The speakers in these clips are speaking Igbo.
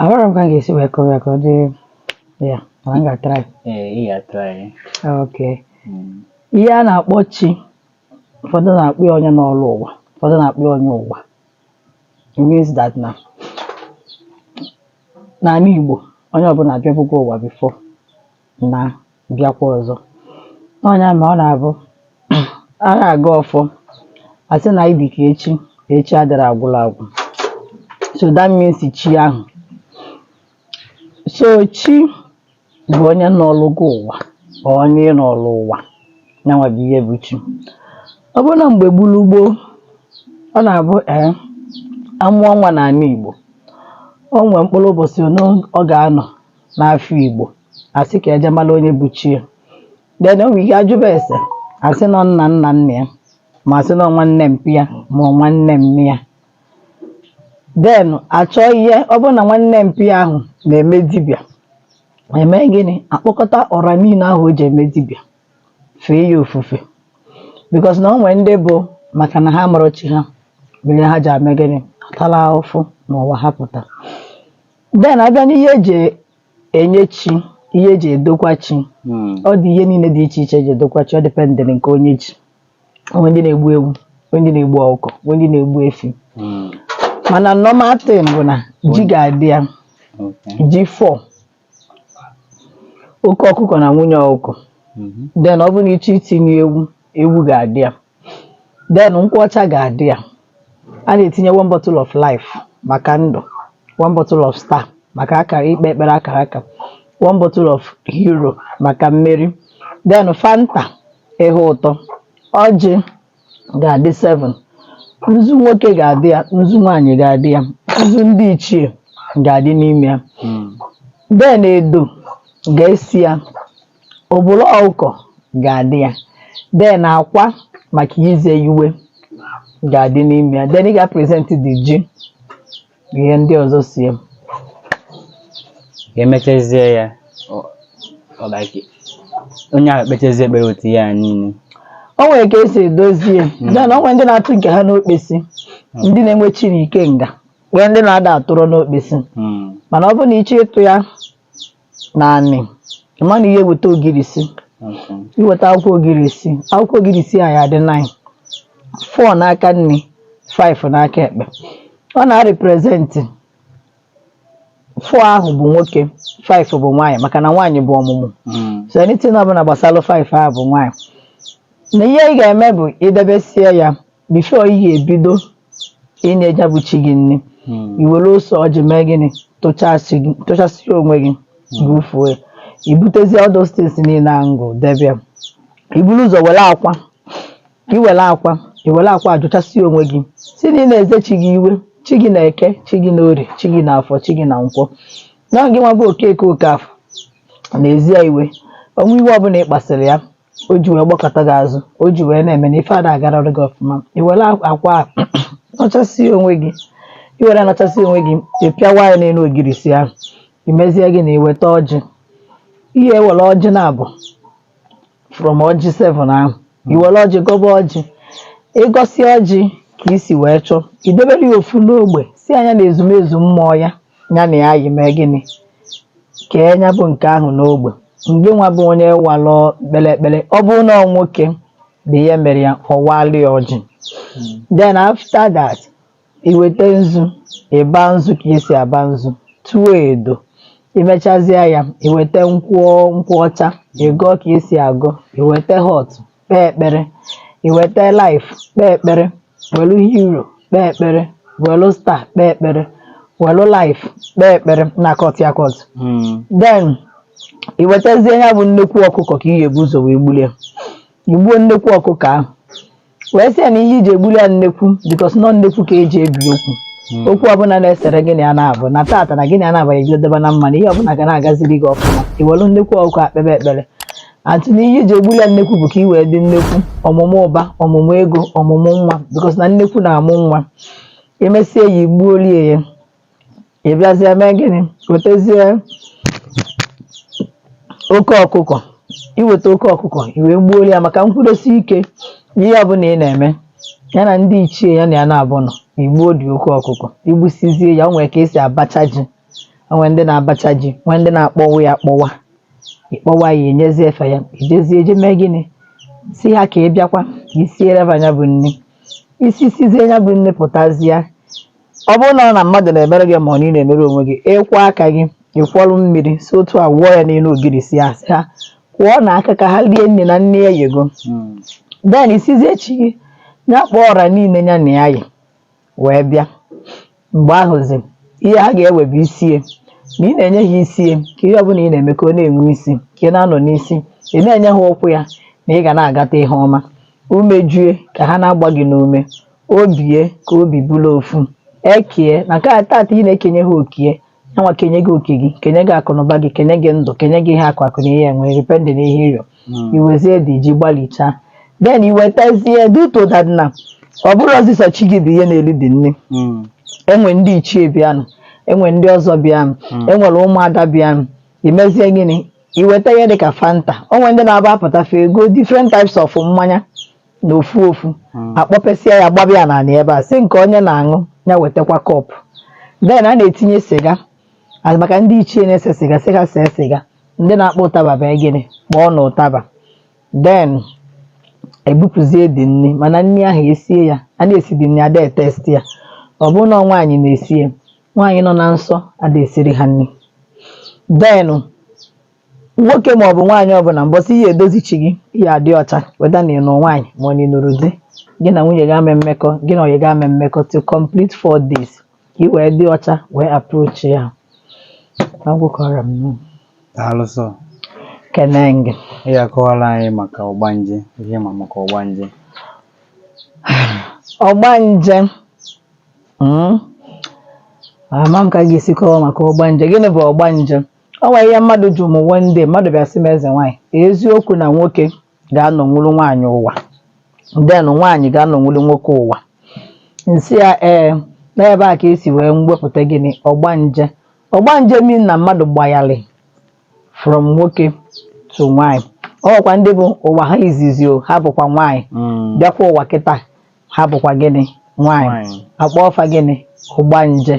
Ahụrọ m ka m ga-esi wee kọwa ya ka ọ dị ya mana m ga-atry. Ee, ị ga-atry. Okay. Mm. Ihe a na-akpọ chi ụfọdụ na-akpọ ya onye nọlụ ụwa ụfọdụ na-akpọ ya onye ụwa. It means that na n'ala Igbo onye ọbụla abịabugo ụwa before. na bịakwa ọzọ ọ nya mere ọ na-abụ a na-agọ ọfọ asị na anyị dị ka echi echi adịrọ agwụla agwụ so that means chi ahụ so chi bụ onye nọlụgo ụwa onye nọlụ ụwa nyanwa bụ ihe bụ chi ọ bụrụ na mgbe gboo gboo ọ na-abụ ee amụọ nwa n'ala Igbo o nwee mkpụrụ ụbọchị ọ ga-anọ n'afọ Igbo asị ka eje mara onye bụ chi ya then o nwere ike ajụba ese asị na ọ nna nna nna ya ma asị na ọ nwanne mpa ya ma ọ nwanne mma ya then achọọ ihe ọ bụrụ na nwanne mpa ya ahụ na-eme dibịa eme gịnị akpọkọta ọra niile ahụ o ji eme dibịa fee ya ofufe because na o nwere ndị bụ maka na ha amarọ chi ha mere ha ji eme gịnị atala ahụfụ n'ụwa ha pụta then abịa n'ihe eji enye chi ihe eji edokwa chi hmm. ọ dị ihe niile dị iche iche eji edokwa chi ọ dịpendịrị nke onye ji o nwe ndị na-egbu ewu o nwe ndị na-egbu ọkụkọ o nwe ndị na-egbu efi hmm. mana normal thing bụ na ji ga-adị ya ji 4 oke ọkụkọ na nwunye ọkụkọ hmm. then ọ bụrụ na ị chọ itinye ewu ewu ga-adị ya then nkwụ ọcha ga-adị ya a na-etinye one bottle of life maka ndụ one bottle of star maka akara ikpe ekpere akara aka one bottle of hero maka mmeri then fanta ihe ụtọ ọjị ga-adị 7 nzu nwoke ga-adị ya nzu nwaanyị ga-adị ya nzu ndị ichie ga-adị n'ime ya then edo ga-eso ya Obolo ọkụkọ ga-adị ya. Then akwa maka ize iwe ga-adị n'ime ya. Then ị ga-present the ji na ihe ndị ọzọ so ya. Emechazie ya ọ- ọ like onye ahụ kpechazie ekpere otu ihe a niile. O nwere ka esi edozi ya. Then o nwere ndị na-atụ nke ha n'okpesi, ndị na-enwe chi na ikenga, nwee ndị na-ada atụrụ n'okpesi. Mm. Mana ọ bụrụ na ị chọọ ịtụ ya naanị ị ma na ị ya-eweta ogirisi Okay. i weta akwụkwọ ogirisi akwụkwọ ogirisi a ya-adị 9 4 n'aka nni 5 n'aka ekpe ọ na-represent 4 ahụ bụ nwoke 5 bụ nwaanyị maka na nwaanyị bụ ọmụmụ Mm. so anything ọbụla gbasara 5 ahụ bụ nwaanyị na ihe ị ga-eme bụ idebesie ya before iyi ebido inye ya bụ chi gị nri hmm. i were ose ọjị mee gịnị tụchasị onwe gị hmm. bufuo ya ibutezie all those things niile ahụ m gụ debe ya iburu ụzọ were akwa i were akwa ajụchasị onwe gị si na ị na-eze chi gị iwe chi gị na eke chi gị na orie chi gị na afọ chi gị na nkwọ na gị nwa bụ okeke okafọ na-eze ya iwe o nwee iwe ọbụla ị kpasịrị ya o ji wee gbakụta gị azụ o ji wee na-eme na ife ada agarara gị ọfụma i were akwa anọchasie onwe gị i were nọchasie onwe gị ị pịawa ya n'elu ogirisi ahụ i mezie gịnị i weta ọjị i were ọjị naabọ from ọjị 7 ahụ i were ọjị gọba ọjị ị gọsị ọjị ka i si wee chọọ idebere ya ofu n'ogbe sị ya nya na ezumezu mmụọ ya ya na ya yi mee gịnị kee ya bụ nke ahụ n'ogbe mgbe nwa bụ onye walụ kpere ekpere ọ bụrụ na ọ nwoke bụ ihe mere ya ọ walụ ya ọjị then after that iweta nzu ịba nzu ka esi aba nzu tụọ edo imechazie ya iweta nkwụ ọcha ịgọ ka esi agọ iweta hot kpee ekpere iweta life kpee ekpere welu hero kpee ekpere welu star kpee ekpere welu life kpee ekpere na kọt ya kọt hmm. then iwetazie ya bụ nnekwu ọkụkọ ka iyi ebu ụzọ wee gbulie igbuo nnekwu ọkụkọ ahụ wee sị ya na ihe iji egbuli ya nnekwu because na ọ nnekwu ka eji ebi okwu hmm. okwu ọbụla na-esere gị na ya na-abụ na taata na gị na ya na-abaghị gị debe na mma na ihe ọbụla ga na-agaziri gị ọfụma iwelu nnekwu ọkụkọ akpebe ekpere atụ na ihe iji egbuli ya nnekwu bụ ka i wee dị nnekwu ọmụmụ ụba ọmụmụ ego ọmụmụ nwa because na nnekwu na-amụ nwa emesie ya igbuolie ya ị bịazie mee gịnị wetezie oke ọkụkọ iweta oke ọkụkọ i wee gbuolie ya maka nkwụdosi ike ihe ọ bụla ị na-eme ya na ndị ichie ya na ya na-abụ nọ igbuo dị oke ọkụkọ igbusizie ya o nwere ka esi abacha ji o nwere ndị na-abacha ji nwee ndị na-akpọwa ya akpọwa ịkpọwa ya enyezie fa ya ijezie eje mee gịnị si ha ka ị bịakwa ka i siere ha ya bụ nri i sisizie ya bụ nri pụtazie ọ bụrụ na ọ na mmadụ na-emere gị ma ọ na ị na-emere onwe gị ịkwọ aka gị ịkwọrụ mmiri si otu a wụọ ya n'elu ogirisi ya sị ha kwọọnụ aka ka ha rie nri na nri eyego then ị sịzie chi gị ya kpọọ ọra niile ya na ya yi wee bịa mgbe ahụzi ihe ha ga-ewe bụ isi ya na ị na-enye ha isi ya ka ihe ọbụla ị na-eme ka ọ na-enwe isi ka ị na-anọ n'isi ị na-enye ha ụkwụ ya na ị ga na-agata ihe ọma umeju ya ka ha na-agba gị n'ume obi ya ka obi bụrụ ofu eke ya na ọ ka tata ị na-ekenye ha oke ya yanwa kenye gị oke gị kenye gị akụnụba gị kenye gị ndụ kenye gị ihe akụ akụ na ihe enwe depending na ihe ịrịọ Mm. iwezie the ji gbalichaa then iwetazie due to that na ọ bụrọzi sọ chi gị bụ ihe na-eri the nri Mm. enwe ndị ichie bịanụ enwe ndị ọzọ bịanụ Mm. enwere ụmụada bịanụ imezie gịnị iweta ihe dịka fanta onwe ndị na-aba apụtafe ego different types of mmanya na ofu ofu hmm. akpọpesịa ya gbaba ya n'ala ebe a sị nke onye na-aṅụ ya wetakwa cup then a na-etinye siga maka ndị ichie na-ese siga sị ha see siga ndị na-akpọ ụtaba bụ gịnị kpọọnụ ụtaba then ebupụzie the nri mana nri ahụ esie ya a na-esi the nri ada etest ya ọ bụrụ na nwaanyị na-esie nwaanyị nọ na nsọ ada esiri ha nri then nwoke ma ọ bụ nwaanyị ọbụla mbọsị ị ya-edozi chi gị ị ya-adị ọcha whether na ị nụ nwaanyị ma ọ na ị nụrụ di gị na nwunye gị ama-enwe mmekọ gị na nwunye gị ama-enwe mmekọ to complete four days ka ị wee dị ọcha wee approach ya agwụkọrọ m nụ. daalụ sọ kene gị ị ga-akọwara anyị maka ọgbanje ihe ị ma maka ọgbanje ọgbanje Mm. ama m ka m ga-esi kọwa maka ọgbanje gịnị bụ ọgbanje O nwere ihe mmadụ jụrụ m one day, mmadụ bịara sị m eze nwaanyị, eziokwu na nwoke ga-anọnwuru nwaanyị ụwa, then nwaanyị ga-anọnwuru nwoke ụwa. M sị ya ee, na ebe a ka esi wee wepụta gịnị ọgbanje. Ọgbanje mean na mmadụ gbagharị from nwoke to nwaanyị. O nwekwa ndị bụ ụwa ha izizi o, ha bụkwa nwaanyị, Mm. bịakwa ụwa kịta ha bụkwa gịnị nwaanyị Nwaanyị. akpọọ fa gịnị ọgbanje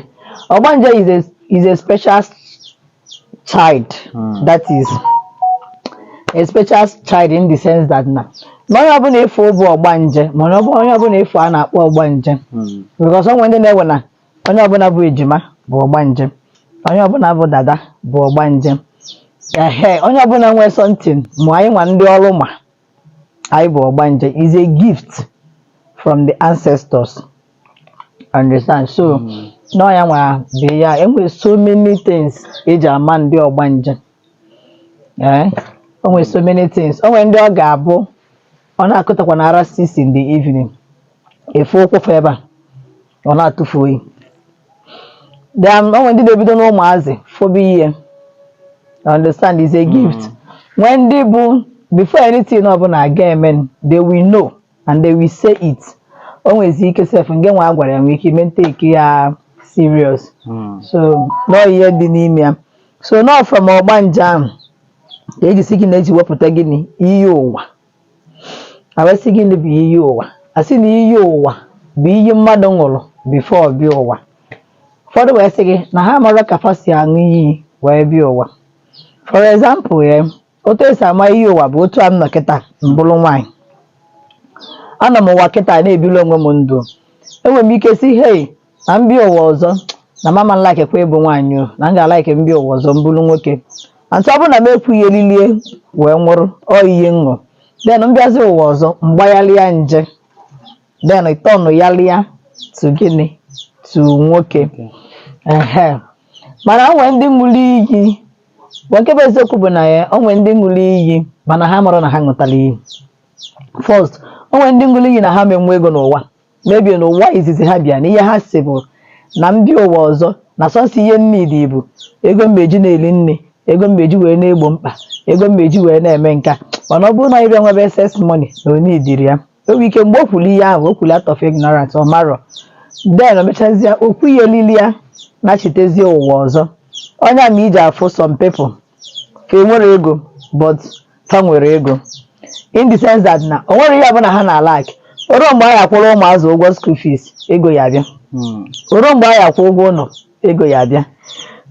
ọgbanje is a, is a special child Mm. that is a special child in the sense that na na onye ọbụla ị fụ bụ ọgbanje mana ọ bụrọ onye ọbụla ị fụ a na-akpọ ọgbanje Mm. because onwe ndị na-ewe na onye ọbụla bụ ejima bụ ọgbanje onye ọbụla bụ dada bụ ọgbanje ehe onye ọbụla nwee something ma anyị nwa ndị ọrụ ma na ihe bụ ọgbanje is a gift from the ancestors understand so na ọ ya nwa bụ ya enwere so many things eji ama ndị ọgbanje ee o nwere so many things o nwere ndị ọ ga-abụ ọ na-akụtakwa na around six in the evening ị fụ ụkwụ fa ebe a ọ na-atụ fa oyi then o nwere ndị na-ebido n'ụmụazị fụba ihe I understand is a gift nwee ndị bụ before anything ọbụla ga-eme they will know and they will say it o nwezi ike sef ngị nwa a gwara ya nwee ike ị ma etake ya serious so na ọ ihe dị n'ime ya so na ọ from ọgbanje ahụ ka eji si gịnị eji wepụta gịnị iyi ụwa a wee sị gịnị bụ iyi ụwa a sị na iyi ụwa bụ iyi mmadụ ṅụrụ before ọ bịa ụwa ụfọdụ wee sị gị na ha amarọ ka fa si aṅụ iyi wee bịa ụwa for example otu e si ama iyi ụwa bụ otu a m nọ kịta m bụrụ nwaanyị anọ m ụwa kịta na-ebili onwe m ndụ enwere m ike sị hei na m bịa ụwa ọzọ na m ama alike kwa ịbụ nwaanyị o na m ga-alike m bịa ụwa ọzọ m bụrụ nwoke and ọ bụrụ na m ekwu ihe niile wee nwụrụ ọ ihe ṅụ then m bịazi ụwa ọzọ m gbagharịa gender tọnụghalịa to gịnị to nwoke ehe mana o nwere ndị ṅụrụ iyi bụ nke bụ eziokwu bụ na ya o nwere ndị ṅụrụ iyi mana ha amarọ na ha ṅụtara iyi first o nwere ndị ṅụrụ iyi na ha ama enwe ego n'ụwa maybe n'ụwa izizi ha bịa na ihe ha sị bụ na m bịa ụwa ọzọ na sọsọ ihe m needị bụ ego m eji na-eri nni ego m eji wee na-egbo mkpa ego m eji wee na-eme nke a mana ọ bụrụ na ịbịa nwebe excess money na ọ needịrọ ya o nwere ike mgbe o kwuru ihe ahụ o kwuru out of ignorance ọ marọ then o mechazie okwu ihe niile a nachitezie ụwa ọzọ ọ ya mere i ji afụ some people fa enwerọ ego but fa nwere ego in the sense that na o nwerọ ihe ọbụla ha na-alack o ruo mgbe a ya-akwụrụ ụmụazụ ụgwọ school fees ego ya abịa Mm. o ruo mgbe a ya-akwụ ụgwọ ụlọ ego ya abịa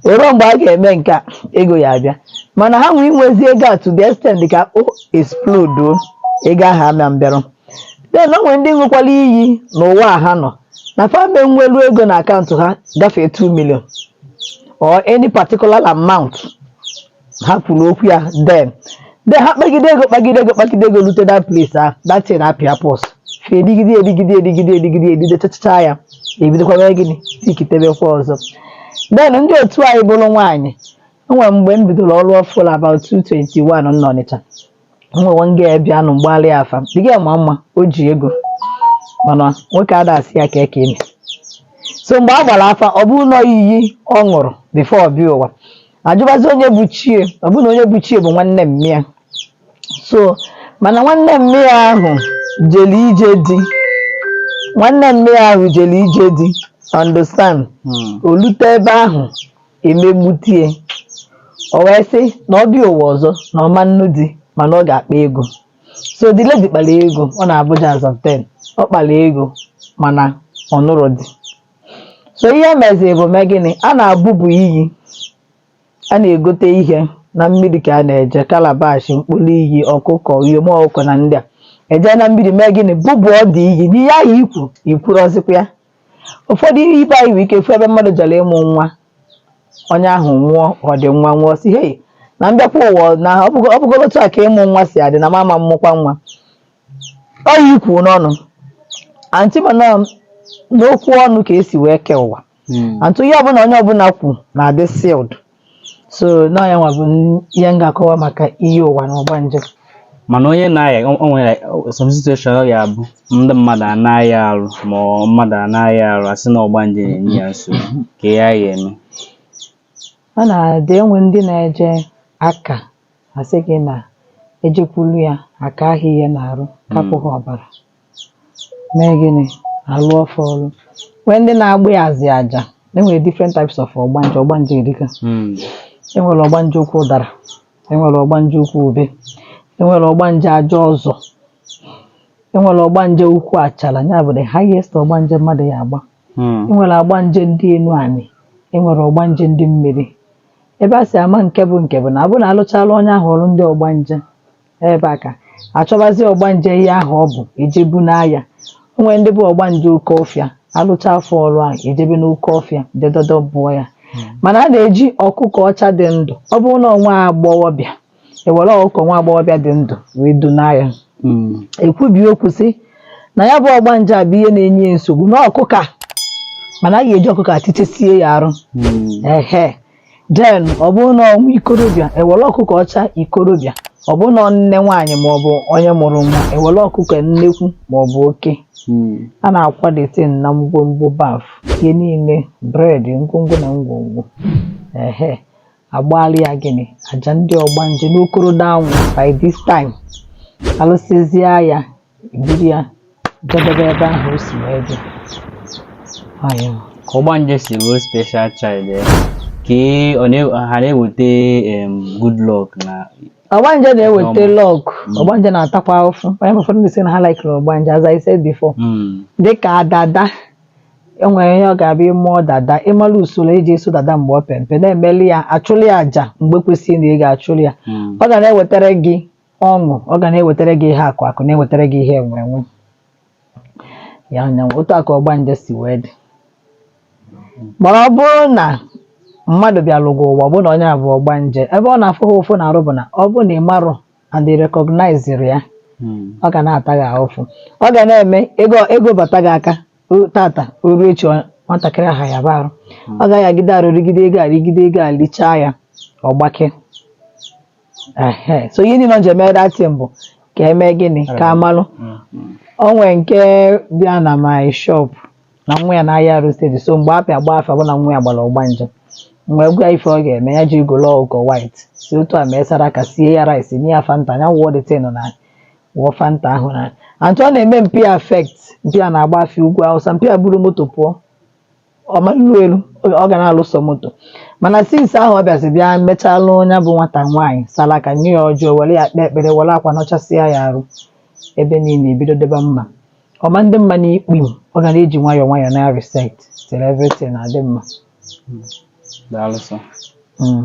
o ruo mgbe a ga-eme nke a ego ya abịa mana ha nwee inwezi ego a to the extent ka o explode o, ego ahụ ama abịaru then o nwere ndị ṅụkwara iyi n'ụwa a ha nọ na fa ama enwelu ego na akaụntụ ha gafee 2 million or any particular amount ha kwuru okwu ya then then ha kpagide ego kpagide ego kpagide ego rute that place ahụ that thing apịa pause ha edigide edigide edigide edigide edigide chachacha ya ebidokwa mee gịnị tikitebekwa ọzọ then ndị otu anyị bụrụ nwaanyị enwere mgbe m bidoro ọrụ ọfụrụ about 221 m n'Ọnịcha nwewe nga ya bịa nụ m gbaalụ ya afa the girl ma mma o ji ego mana nwoke ada asị ya kee ka i me so mgbe a gbara afa ọ bụrụ na iyi ọ ṅụrụ before ọ bịa ụwa ajụbazi onye bụ chi ya ọ bụrụ na onye bụ chi ya bụ nwanne mma ya so mana nwanne mma ya ahụ jere ije di nwanne mma ya ahụ jere ije di understand Hmm. o lute ebe ahụ e megbute ya o wee sị na ọ bịa ụwa ọzọ na ọ ma-anụ di mana ọ ga-akpa ego so the lady kpara ego ọ nọ n'Abuja as of then ọ kpara ego mana ọ nụrọ di so ihe e meziri bụ mee gịnị a na-abụbu iyi a na-egote ihe na mmiri ka a na-eje calabash mkpụrụ iyi ọkụkọ uyom ọkụkọ na ndị a eje na mmiri mee gịnị bụbụ ọ dị iyi n'ihe ahụ ikwu ikwuru ọzịkwa ya ụfọdụ ibe anyị nwere ike fụ ebe mmadụ jere ịmụ nwa onye ahụ nwụọ ọ dị nwa nwụọ sị hei na m bịakwa ụwa na ọ bụgo- ọ bụgoro otu a ka ịmụ nwa si adị na m ama amụkwa nwa ọ yi kwuo n'ọnụ aunty mana n'okwu ọnụ ka esi wee kee ụwa Mm. aunty ihe ọbụla onye ọbụla kwu na-adị sealed so na ya nwa bụ ihe m ga-akọwa maka iyi ụwa na ọgbanje mana onye na-aya o o nwere some situation ọ ga-abụ ndị mmadụ a na-aya arụ ma ọ mmadụ a na-aya arụ a sị na ọgbanje na-enye ya nsogbu ka ya ya eme ọ na-adị enwe ndị na-eje aka a sị gị na e jekwuru ya aka ahụ ha na-arụ kapụ ha ọbara mee gịnị alụ ọfọ ọrụ nwee ndị na-agba ya azị aja enwere different types of ọgbanje ọgbanje erika hmm. enwere ọgbanje ukwu ụdara enwere ọgbanje ukwu ube enwere ọgbanje aja ụzọ enwere ọgbanje ukwu achala ya bụ the highest ọgbanje mmadụ ya agba hmm. enwere ọgbanje ndị enu anị enwere ọgbanje ndị mmiri ebe a si ama nke bụ nke bụ na abụ na alụchala onye ahụ ọrụ ndị ọgbanje ebe a ka achọbazi ọgbanje ihe ahụ ọ bụ ejebu n'ahịa o nwere ndị bụ ọgbanje oke ọfịa alụcha afọ ọrụ ahụ ejebe n'oke ọfịa jedodo bụọ ya mana a na-eji ọkụkọ ọcha dị ndụ ọ bụrụ na nwa agbọghọbịa ewere ọkụkọ nwa agbọghọbịa dị ndụ wee dunye ya Mm. ekwubi okwu sị na ya bụ ọgbanje a bụ ihe na-enye ya nsogbu na ọkụkọ a mana a ga-eji ọkụkọ a tichesie ya arụ Mm. ehe then ọ bụrụ na ọ nwa ikorobịa ewere ọkụkọ ọcha ikorobịa ọ bụrụ na nne nwaanyị ma ọ bụ onye mụrụ nwa ewere ọkụkọ nnekwu ma ọ bụ oke hmm. a na-akwadete na ngwongwo baf ihe niile bread ngwongwo na ngwongwo ehe agbaala ya gịnị aja ndị ọgbanje n'okoro anwụ by this time alụsịzịa ya buru ya jedebe ebe ahụ o si wee bịa. Ayọ. Ka ọgbanje si bụrụ special child ya. Ka ọ na- ha na-eweta em, good luck na Ọgbanje na-eweta Ọma. luck. Mm. Ọgbanje na-atakwa ụfụ. Onye ma ụfọdụ ndị sị na ha laikiri ọgbanje as I said before. Mm, dịka dada enwere ihe ọ ga-abụ ị mụọ dada ị mara usoro eji eso dada mgbe ọ pere mpe na-emeli ya achụli ya aja mgbe kwesịrị na ị ga-achụli ya mm. ọ ga na-ewetara gị ọṅụ ọ ga na-ewetara gị ihe akụ akụ na-ewetara gị ihe enwe enwe ya nyanwa otu a ka ọgbanje si wee dị mana ọ bụrụ na mmadụ bịalụ gị ụwa ọ bụrụ na onye a bụ ọgbanje ebe ọ na-afụ ha ụfụ n'arụ bụ na ọ bụrụ na ị marọ and ị rekọgnaizirọ ya ọ ga na-ata gị ahụfụ ọ ga na-eme ego ego bata gị aka o- tata o ruo echi ọ- nwatakịrị ahụ ayaba arụ ọ ga-ayagide arụ rigide ego a rigide ego a lichaa ya ọ gbake Ehe, so ihe niile ọ ji eme that thing bụ ka eme gịnị ka amalụ o nwee nke bịa na my shop na nwa ya na-ahịa arụ steady so mgbe a bịa gba afa bụ na nwa ya gbara ọgbanje mgbe gwa ife ọ ga-eme ya je golo ọkụkọ white si otu a mee saraka sie ya rice nye ya fanta ya wụọ that thing na wụọ fanta ahụ na antụ ọ na-eme mpi affect mpi a na-agafe ugwu Awụsa mpi a buru moto pụọ ọ ma eru eru ọ ọ ga na-alụ sọ moto mana since ahụ ọ bịazi bịa mechaalụ onye bụ nwata nwaanyị saraka nye ya ọjị ọ were ya kpee ekpere were akwa nọchasịa ya arụ ebe niile ebido dịba mma ọ ma adị mma na ikpu ọ ga na-eji nwayọọ nwayọọ na reset till everything na-adị mma Daalụ sọ. Mm.